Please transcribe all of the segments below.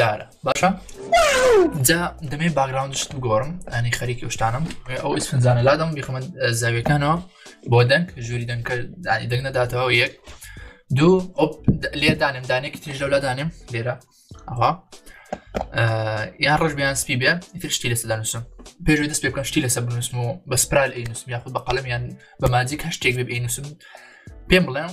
دارە باشە جا دەمێ باگراوندشت بگۆڕم ئەنی خەریکی شتانم ئەو ئیسفنجانە لادەم بیخمە زاویەکانەوە بۆ دەنگ ژووری دەنگکە دانی دەنگ نەداتەوە یەک دوو ئۆپ لێ دانم دانێکی تریش لەو لادانم لێرە ئەها یان ڕژ بیان سپی بێ تر شتی لەسە دانوسم پێش دەست پێ بکەم شتی لەسە بنووسم و بە سپرال ئەینوسم یاخود بە قەلم یان بە ماجیک هەشتێک بێ ئەینوسم پێم بڵێم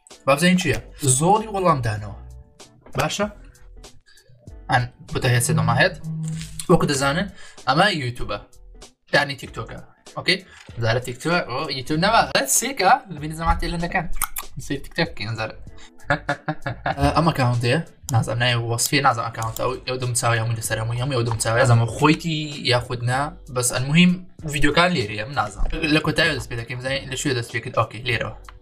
بابزین چییە زۆڵی وەڵامدانەوە باشە ئەن بتەهێسێ دەماهێت وەکو دەزانن ئەمە یوتوبە دانی تیکتۆکە ئۆکەی زارە تیکتۆ یوتوب نەوە سێکە لەبینی زەماتی لە دەکەن سێ تیکتۆک زارە ئەمە کاونتەیە نازم نای وەسفێ نازم ئەکاونتە ئەو دەم چاوی هەموو لەسەر هەموو هەموو ئەو دەم چاوی زەمە خۆیتی یاخودنا بەس ئەلمهم ڤیددیوکان لێرەیە نازم لە کۆتای دەست پێ دەکەم زای لە شوێ دەست پێکرد ئۆکی لێرەوە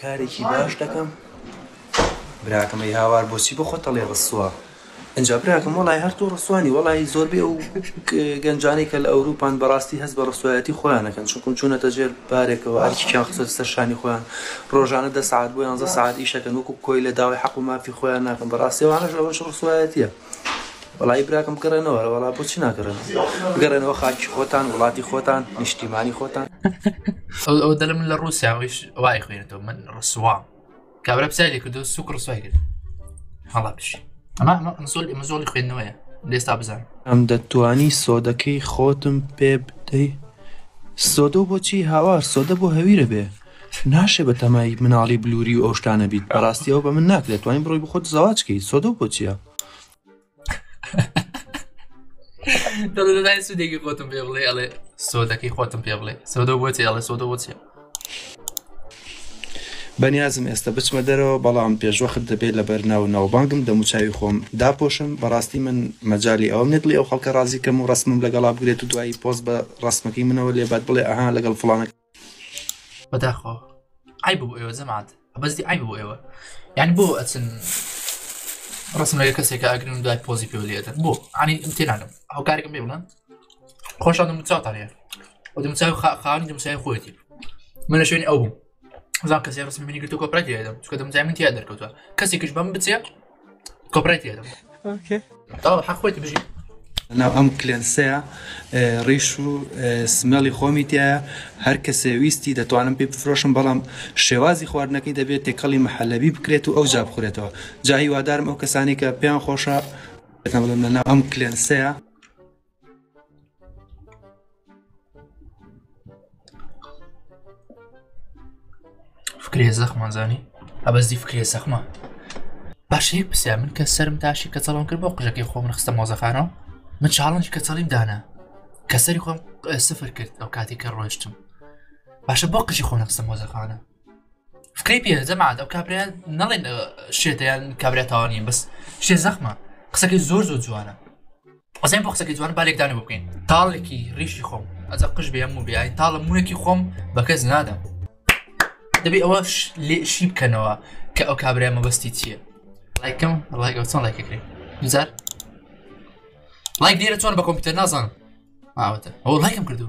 کارێکی باش دەکەم براکەم ئەی هاوار بۆچی بۆ خۆت ئەڵێ ڕسوا ئەجا براکەم وەڵی هەر تۆ ڕسوانی وەڵی زۆربەی ئەو گەنجانەی کە لە ئەوروپان بەڕاستی هەست بە ڕسوایەتی خۆیانەکەن چونکم چوونەتە ژێر بارێکەوە ئەرکیان خسەر سەر شانی خۆیان ڕۆژانە دە سعات بۆ یانزە سعات ئیشەکەن وەکو کۆی لە داوای حەق و مافی خۆیان ناکەن بەڕاستیەوانەش ئەوەش ڕسوایەتیە وەڵایی براکەم گەڕێنەوە وەڵا بۆچی ناگەڕێن گەڕێنەوە خاکی خۆتان وڵاتی خۆتان نیشتیمانی خۆتان ئەو دەلم لە ڕوسیاویش وای خوێنێتەوە من ڕسوام کابرا پسای لێ کردو سوک ڕسوای کرد هەڵا بش ئەمە زۆل ئمە زۆڵی خوێندنەوەە لێستا بزان ئەم دەتوانی سۆدەکەی خۆتم پێ بدەی سۆدە بۆچی هاوار سۆدە بۆ هەویرە بێ ناشێ بە تەمای مناڵی بلوری و ئەو شتانە بیت بەڕاستی ئەو بە من ناکرێت توانین بڕۆی بخۆت زەواج کەی سۆدە و بۆچیە دەڵێ سودێکی خۆتم پێ بڵێ ئەڵێ سۆدەکەی خۆتم پێ بڵێ سۆدە بۆچێ ئەڵێ سۆدە بۆچێ بەنیازم ئێستا بچمە دەرەوە بەڵام پێشوەخت دەبێت لە بەرنا و ناوبانگم دەموچوی خۆم داپۆشم بەڕاستی من مەجای ئەوم نێت بڵێ ئەو خەڵکە ڕازیکەم و ڕسمم لەگەڵا بگرێت و دوایی پۆست بە ڕسمەکەی منەوە لێبات بڵێ ئەها لەگەڵ فلانەکە بەداخۆ ئای بۆ ئێوە جەماعات بەستی ئای بۆ ئێوە یعنی بۆ ئەچن ڕسم لەگە کەسێکە ئەگرن دوای پۆزی پێ لێدەن بۆ ئەنی تێناگەم هەوکارێکم بێ بڵێن خۆشان دەموچاوتان هەیە و دەموچاو خاوەنی دەموچای خۆیەتی من لە شوێنی ئەو بووم زان کەسی ڕسم منی گرتو کۆپرای لێدەم چکە دەمجای من تیا دەرکەوتوە کەسێکش بەم بچێ کۆپرای تێدەم تاوە حەخۆیت بژی ناو ئەم کلێنسەیە ڕیش و سمێڵی خۆمی تایە هەر کەسێ ویستی دەتوانم پێ بفرۆشم بەڵام شێوازی خواردنەکەی دەبێت تێکەڵی محەلەبی بکرێت و ئەو جا بخورێتەوە جاهیوادارم ئەو کەسانی کە پێیان خۆشە ئەم کلێنسەیە فکرێ زەخمان زانی ئەبەزی فکرێ زەخمە باشەیەک پرسیار من کە سرم تاشی کە چەڵم کرد بۆ قژەکەی خۆم نخستە مۆزەخانەوە من چاڵنج کە چڵیم دانا کە سەری خۆم سفر کرد ئەو کاتی کە ڕۆشتم باشە بۆ قژی خۆ نخستە مۆزەخانە فکری پێ جەماعات ئەو کابرایان نەڵێن شێتیان کابرێتەوانین بەس شێ زەخمە قسەکەی زۆر زۆر جوانە قسەم بۆ قسەکە جوان بالێک دانە بکەین تاڵێکی ڕیشی خۆم ئەجا قش بێ هەموو بێ تاڵە موونێکی خۆم بە کەس نادەم دەبێ ئەوە لێ شی بکەنەوە کە ئەو کابرای مەبەستی چییە لایکم لایگە چۆن لایکەکرێ جار لایک لێرە چۆن بە کۆمپیوتەر نازانم ئاوەتە ئەو لایکم کردو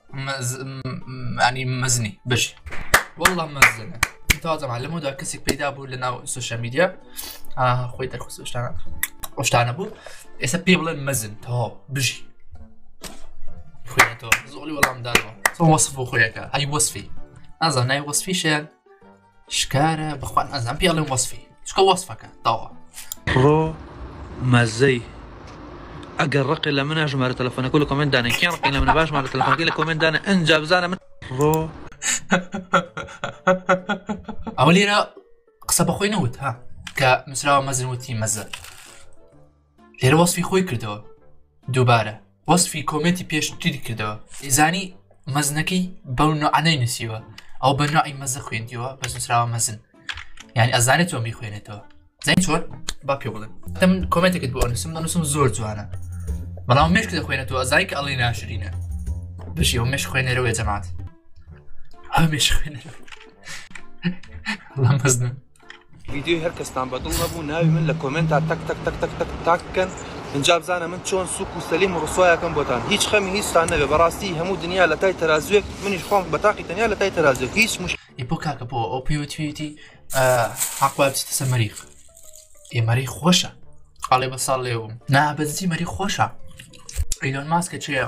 ئەنی مەزنی بژ وەڵام مەزن تازەمان لەمەدا کەسێک پەیدا بوو لە ناو سوشە میدیا خۆی دەرخستشتانە ئەوشتانە بوو ئێستا پێ بڵێن مەزن تەواو بژی خوێنێتەوە زۆڵی وەڵامدانەوە وەصف بۆ خۆیەکە ئەی وەصفی ئازانای وەصفیشە شکارە بخوان ئەزان پێڵێ وەصفی چکە وەصفەکە تەوا ڕۆ مەزەی ئەگەر ڕقی لە منە ژمارە تەلەفۆنەکە لە کۆمنت دانێن کێ ڕقی لە منە باش مارە تەلەفۆنەکە لە کۆمنت دانە ئەنج بزانە من ڕۆ ئەوە لێرە قسە بەخۆی نەوت ها کە نووسراوە مەزن وتی مەزە لێرە وەسفی خۆی کردەوە دووبارە وەسفی کۆمێتی پێشتری کردەوە ئیزانی مەزنەکەی بەو نوعانەی نووسیوە ئەو بە نوعی مەزە خوێندیەوە بە سوسراوە مەزن یعنی ئەزانێت تۆ میخوێنێتەوە زین چۆن با پێ بڵێن دەم کۆمێتێکت بۆ نووسم دەنووسم زۆر جوانە بەڵام مشک دەخوێنێتەوە ئەزای کە ئەڵی ناشرینە بژی و مش خوێنەرەوەی جەمات ئەو مش خوێنەر مەزن ڤیدیۆی هەر کەستان بە دڵ نەبوو ناوی من لە کۆمنتا تەک تەک تەک تەک تەک تاک بکەن ئینجا بزانە من چۆن سوک و سەلیم و ڕسوایەکەم بۆتان هیچ خەمی هیچتان نەبێ بەڕاستی هەموو دنیا لە تای تەرازوێک منیش خۆم بە تاقی تەنیا لە تای تەرازوێک هیچ مش ئیپۆ کاکە بۆ ئەو پێوتوێتی حەقوا بچیتە سە مەریخ ئێمەری خۆشە ئاڵێ بە ساڵ لێوم نابەزی مەری خۆشە ئەیلۆن ماسکە چێە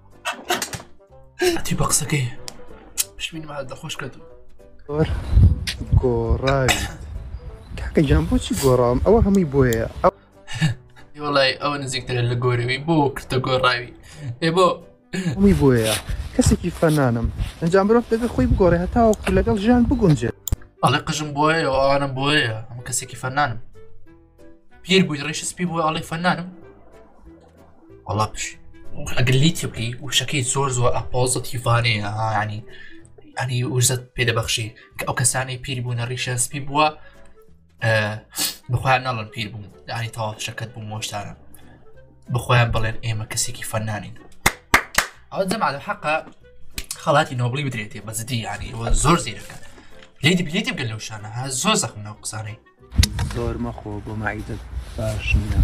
تی بە قسەکەی پشمین مال دەخۆش کرد گۆڕاوی کاکە جان بۆچی گۆڕام ئەوە هەمووی بۆیە ئەو وڵی ئەوە نزیکترە لە گۆرەوی بۆ کردە گۆڕاوی ئێ بۆ هەمووی بۆیە کەسێکی فەنانم ئەنجام مرۆڤ دەبێ خۆی بگۆڕێ هەتاوەکو لەگەڵ ژیان بگونجێت ئەڵێ قژم بۆیە ئەوانم بۆیە ئەم کەسێکی فەنانم پیر بووی ڕێش سپی بووە ئەڵێ فەنانم وڵا پش ئەگەر لی تبلی وشەکەی زۆر زۆر ئەپۆزت هیڤانەیە ینی ئەنی وزت پێدەبەخشی کە ئەو کەسانی پیر بوونە ڕیشە سپی بووە بخوایان ناڵن پیر بوون دانی تەواف شەکەت بوو مۆشتانە بخۆیان بڵێن ئێمە کەسێکی فەنانین ئەو جەمالە حەقا خەڵاتی نۆبڵی بدرێتێ بەزدی ینی زۆر زیرەکە لێدی بلێتی بگەل لەو شانە زۆر زەخمە قسانەی زۆر مەخۆ بۆ مەعیدت باش نییە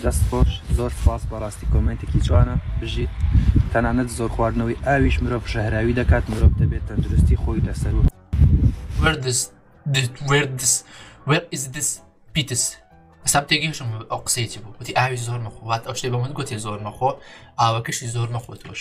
دەست خۆش زۆر سپاس بەڕاستی کۆمنتێکی جوانە بژیت تەنانەت زۆر خواردنەوەی ئاویش مرۆڤ ژەهراوی دەکات مرۆڤ دەبێت تەندروستی خۆی لەسەر و پیتس ئەستا تێگەشم ئەو قسەیتی بوو وتی ئاوی زۆر مەخوات ئەو شتێ بە من گوتی زۆر مەخۆ ئاوەکەشی زۆر مەخۆ تۆش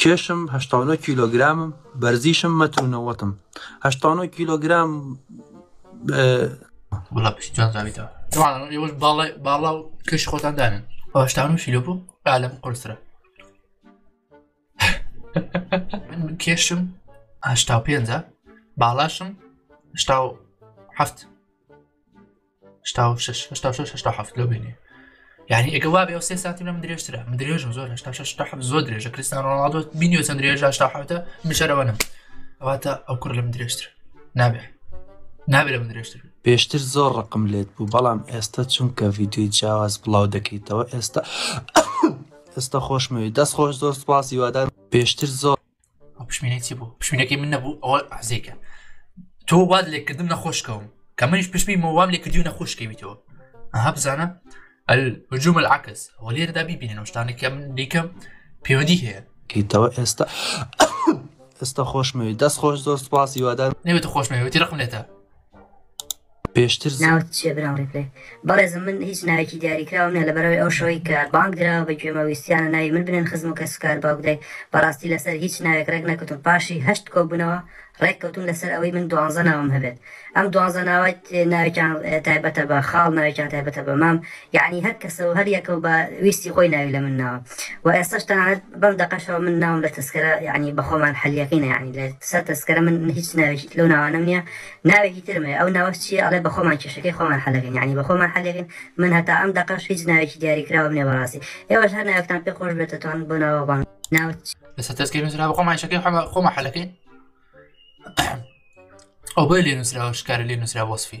کێشم هەشتا و نۆ کیلۆگرامم بەرزیشم مەتر و نەوەتم هەشتا و نۆ کیلۆگرام وڵا پشتیان زاویتەوە طبعا ئێوەش باڵای باڵا و کەش خۆتان دانن هەشتا و نۆ کیلۆ بوو عالەم قورسرە من من کێشم هەشتا و پێنجە باڵاشم هەشتا و هەفت شش لۆ بینێ یعنی ئەگە وا بێ سێ سانتی لەم درێژترە من درێژم زۆر زۆر درێژە کریستان ڕڵادۆ بینیۆ چەند درێژ شتاحوتە مشەرەوە نم ئەواتە ئەو کوڕ لەم درێژتر نابێ نابێ لەم درێژتر پێشتر زۆر ڕقم لێت بوو بەڵام ئێستا چونکە ڤیددیوی جیاواز بڵاو دەکەیتەوە ئێستا ئێستا خۆشمەوی دەست خۆش زۆر سپاسی وادار پێشتر زۆر پشمینەی چی بوو پشمینەکەی من نەبوو ئەوە عزیکە تۆ واد لێکردم نەخۆشکەوم کە منیش پشمی مەوام لێکردی و نەخۆشکەویتەوە ئەها بزانە الهجوم العکس و لێرەدا بیبینن شتانێکە من دیکەم پەیوەندی هەیە کەیتەوە ئێستا ئێستا خۆشمەوی دەست خۆش زۆر سپاسی وادار نەوێت خۆشمەوێتی رقم لێتە پێشتر زۆر. ناوت چیە برام ڕیپلەی. بەڕێزم من هیچ ناوێکی دیاری کراوم نیە لەبەرئەوەی ئەو شەوەی کە بانگ درا بە گوێمە ویستیانە ناوی من بنێن خزم و کەس و کار باوک دایک بەڕاستی لەسەر هیچ ناوێک ڕێک نەکەوتم پاشی هەشت کۆبونەوە ڕێک کەوتون لەسەر ئەوەی من دوانزە ناوم هەبێت ئەم دوانزە ناوە ناوێکیان تایبەتە بە خاڵ ناوێکیان تایبەتە بە مام یعنی هەر کەسە و هەر یەکە و بە ویستی خۆی ناوی لە من ناوە و ئێستاش تەنانەت بەم دەقەشەوە من ناوم لە تەسکەرە یعنی بەخۆمان حەلیەکەینە یعنی لە سەر تەسکەرە من هیچ ناوێکی لەو ناوانەم نیە ناوێکی ترم هەیە ئەو ناوەش چیە ئەڵێ بەخۆمان کێشەکەی خۆمان حەلەکەین یانی بەخۆمان حەلەکەین من هەتا ئەم دەقەش هیچ ناوێکی دیاری کراوم نیە بەڕاستی ئێوەش هەر ناوێکتان پێ خۆش بێت دەتوان بۆ ناوە بەڵام ناوت چی لەسەر تەسکەی نووسرا بەخۆ ماشەکەی حەمە خۆ مەحلەکەی ئەو بۆی لێ نووسراوە شکارە لێ نووسرا وەسفی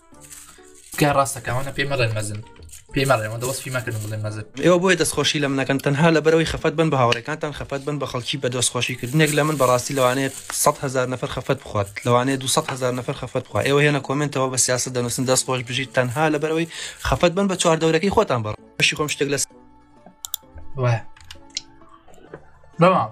تکایە ڕاستەکەمانە پێی مەڵێن مەزن پێی مەڵێەوە دەوەستی مەکردن بڵێ مەزن ئێوە بۆیە دەستخۆشی لە منەکەن تەنها لە بەرەوەی خەفەت بن بە هاوڕێکانتان خەفەت بن بە خەڵکی بە دۆستخۆشیکردنێک لە من بەڕاستی لەوانێت 100 هزار نەفر خەفەت بخوات لەوانێ 200 هزار نەفر خەفەت بخوا ئێوە هێنە کۆمنتەوە بە سیاست دەنووسن دەست خۆش بژیت تەنها لە بەرەوەی خەفەت بن بە چوار دەورەکەی خۆتان بەڕ بەشی خۆم شتێک لەس بەڵام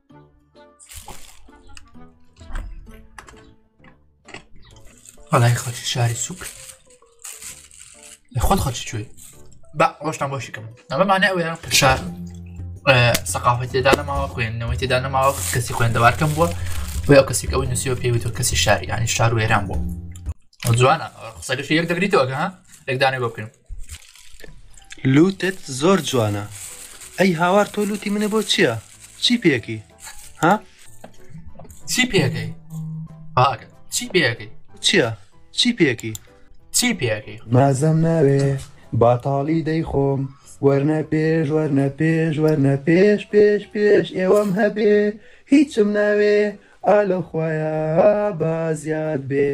بەڵای خەڵکی شاری سوک خۆت خەڵکی کوێ بە ڕۆشتان بۆشیکەم ئەمەمانە ئەوەیە پشار سەقافەت تێدا نەماوە خوێندنەوەی تێدا نەماوە کەسی خوێندەوارکەم بووە بۆ ئەو کەسێک ئەوەی نووسیەوە پێویتەوە کەسی شاری ینی شار وێران بوو جوانە قسەگەشی یەک دەگریتەوەگە یەکدانێ بۆ بکەین لوتت زۆر جوانە. ئەی هاوار تۆ لوتی منە بۆ چییە؟ چی پێکی؟ ها؟ چی پێکەی؟ باکە چی پێکەی؟ چییە؟ چی پێکی؟ چی پێکی؟ مەزەم ناوێ باتاڵی دەیخۆم وەرنە پێش وەرنە پێش وەرنە پێش پێش پێش ئێوەم هەبێ هیچم ناوێ ئالە خویە بازیاد بێ.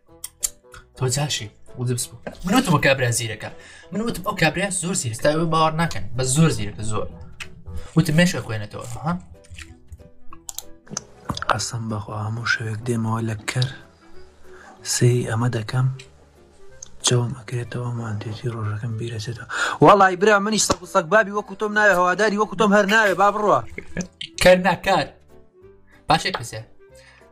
تۆ جاشی وزبس بوو منوتم کابرا زیرەکە من وتم ئەو کابرا زۆر زیرستا باوەڕ ناکەن بە زۆر زیرەکە زۆر وتم مێشە خوێنێتەوە ها قەسم بەخوا هەموو شەوێک دێمەوە لە کەر سری ئەمە دەکەم چاوم ئەکرێتەوە مانتێتی ڕۆژەکەم بیرەچێتەوە وەڵی برا منیش سەک سەک بابی وەکو تۆم ناوێ هەواداری وەکو تۆم هەر ناوێ با بڕە کەر ناکات باشێک پرسێ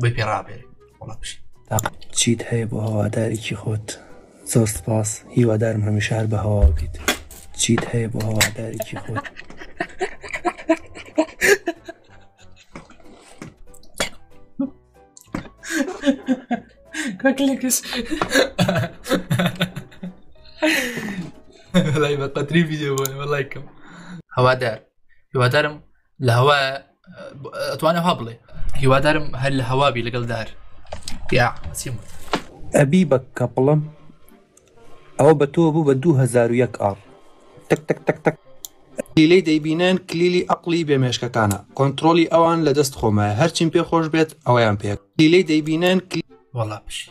بۆی پێ ڕابێ وڵە بژی چیت هەیە بۆ هەوادارێکی خۆت زۆر سپاس هیوادارم هەمیشار بە هەوا بیت چیت هەیە بۆ هەوادارێکی خۆت کاکلێکس لای بە قەتری ڤیددیو بۆ لایکم هەوادار هیوادارم لە هەوا ئەتوانە ها بڵێ هیوادارم هەر لە هەوابی لەگەڵ دار یا سیم ئەبی بە کەپڵم ئەوە بە تۆ بوو بە 2001 ئاڕ تک تک تک تک لیلەی دەیبینن کلیلی ئەقلی بێمێشکەکانە کۆنتترۆلی ئەوان لە دەست خۆمە هەرچیم پێ خۆش بێت ئەویان پێک لیلەی دەیبینن وڵا پشی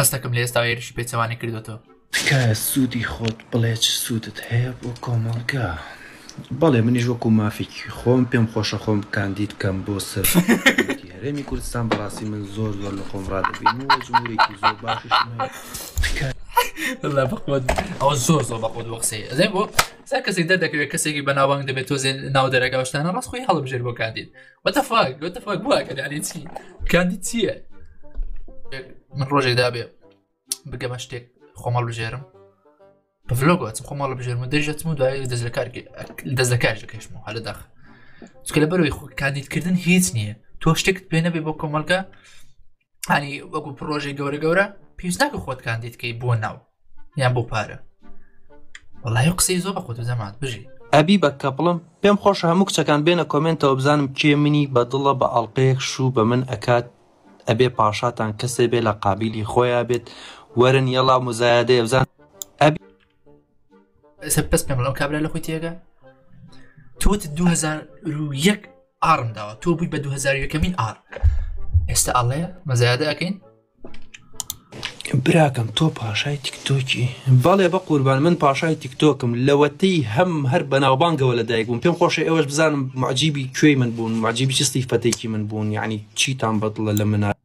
هەستەکەم لە ئێستا هێرشی پێچەوانە کردوێتەوە تکایە سوودی خۆت بڵێ چ سوودت هەیە بۆ کۆمەڵگە بەڵێ منیش وەکو مافێکی خۆم پێم خۆشە خۆم کاندید کەم بۆ سەر هەرێمی کوردستان بەڕاستی من زۆر زۆر لە خۆم ڕادبین و جمهورێکی زۆر باشش لا بەقوت ئەو زۆر زۆر بەقوت وەقسی ئەزێ بۆ سا کەسێک دەردەکەوێت کەسێکی بەناوانگ دەبێت تۆزێ ناو دەرەگەشتانە ڕاستخۆی هەڵبژێر بۆ کاندید وەتەفاک وەتەفاک بووە کە دانێ چی کاندی چییە من ڕۆژێک دابێ بگەمە شتێک خۆمەڵ بژێرم بە ڤلۆگەچم خۆمەڵ بژێرم و دەژەتم و دوای دەست لە کار دەست لە کارژە کەشم و هەلە داخ چکە لە بەرەوەی خۆ کاندیدکردن هیچ نییە تۆ شتێکت پێ نەبێ بۆ کۆمەلگا ئەنی وەکو پرۆژێک گەورە گەورە پێستاکە خۆت کاندیدکەی بۆ ناو یان بۆ پارە وڵی قسەی زۆر بە خۆت زەمات بژی ئەبی بە کەپڵم پێم خۆش هەموو کچەکان بێنە کۆمنتەوە بزانم کێ منی بە دڵە بە ئەڵلقەیەک شوو بە من ئەکات ئەبێ پاشاتان کەسێ بێ لە قابلی خۆیان بێت وەرن یەڵا مزایادەیە بزان ئەبی پس پێم ئەو کابرا لە خۆی تێگە تۆت 2001 ئارم داوە تۆ بووی بە 2001کەمین ئار ئێستا ئاڵێ مەزایادە ئەەکەین براکەم تۆ پاشای تیکتۆکی بەڵێ بە قوربان من پاشای تیکتۆکم لەوەتەی هەم هەر بەناوبانگەوە لە دایک بووم پێم خۆشە ئێوەش بزانم معجیبی کوێی من بوون معجیبی چستی فەتێکی من بوون یعنی چیتان بەدڵە لە منە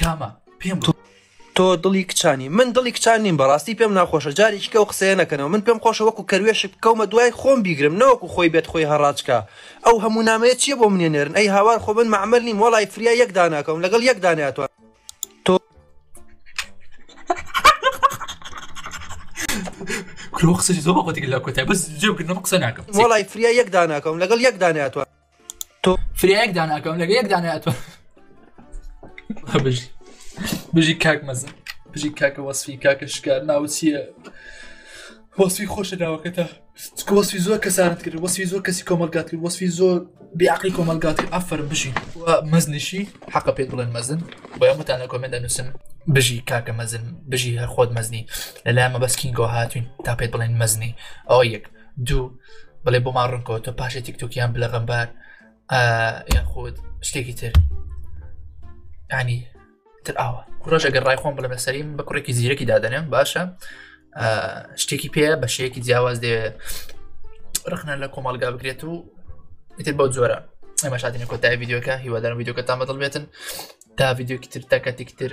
کامە پێم بڵێ تۆ دڵی کچانی من دڵی کچان نیم بەڕاستی پێم ناخۆشە جارێکی کە و قسەیە نەکەنەوە من پێم خۆشە وەکو کەروێشک بکەومە دوای خۆم بیگرم نەوەکو خۆی بێت خۆی هەڕاجکە ئەو هەموو نامەیە چیە بۆ منێ نێرن ئەی هاوار خۆ من معمل نیم وڵی فریا یەک داناکەم لەگەڵ یەک داناتوان تۆ کرۆ قسەی زۆر بەخۆتی لە کۆتای بەس جێ بگرنەوە قسە ناکەم وڵی فریا یەک داناکەم لەگەڵ یەک داناتوان تۆ فرێک داناکەم لەگە یەک دانای ئەتۆ بژی بژی کاک مەزن بژی کاکە وەسفی کاکە شکار ناوچیە وەسفی خۆشە داوەکەتە وەسفی زۆر کەسانت کرد وەسفی زۆر کەسی کۆمەلگات کرد وەسفی زۆر بیعقلی کۆمەلگات کرد ئەفەر بژی مەزنیشی حەقە پێ بڵێن مەزن بۆ ئەمەتان لە کۆمێندا نووسن بژی کاکە مەزن بژی هەر خۆت مەزنی لەلای مەبەستکینگۆ هاتوین تا پێت بڵێن مەزنی ئەو یەک دوو بڵێ بۆ ما ڕنکۆ تۆ پاشە تیکتۆکیان بلە غەمبار یان خۆت شتێکی تر ینی تر ئاوە کوڕژ ئەگەر ڕای خۆم بڵێ بەسەریم بە کوڕێکی زیرەکی دادەنێم باشە شتێکی پێ بە شەیەکی جیاواز دێ ڕخنە لە کۆمەلگا بکرێت و ئیتر بەو جۆرە ئەمە شادینە کۆتای یددیوەکە هیوادارم یددیوکە تامەدڵ بێتن تا یددیوکی تر تاکەتێکی تر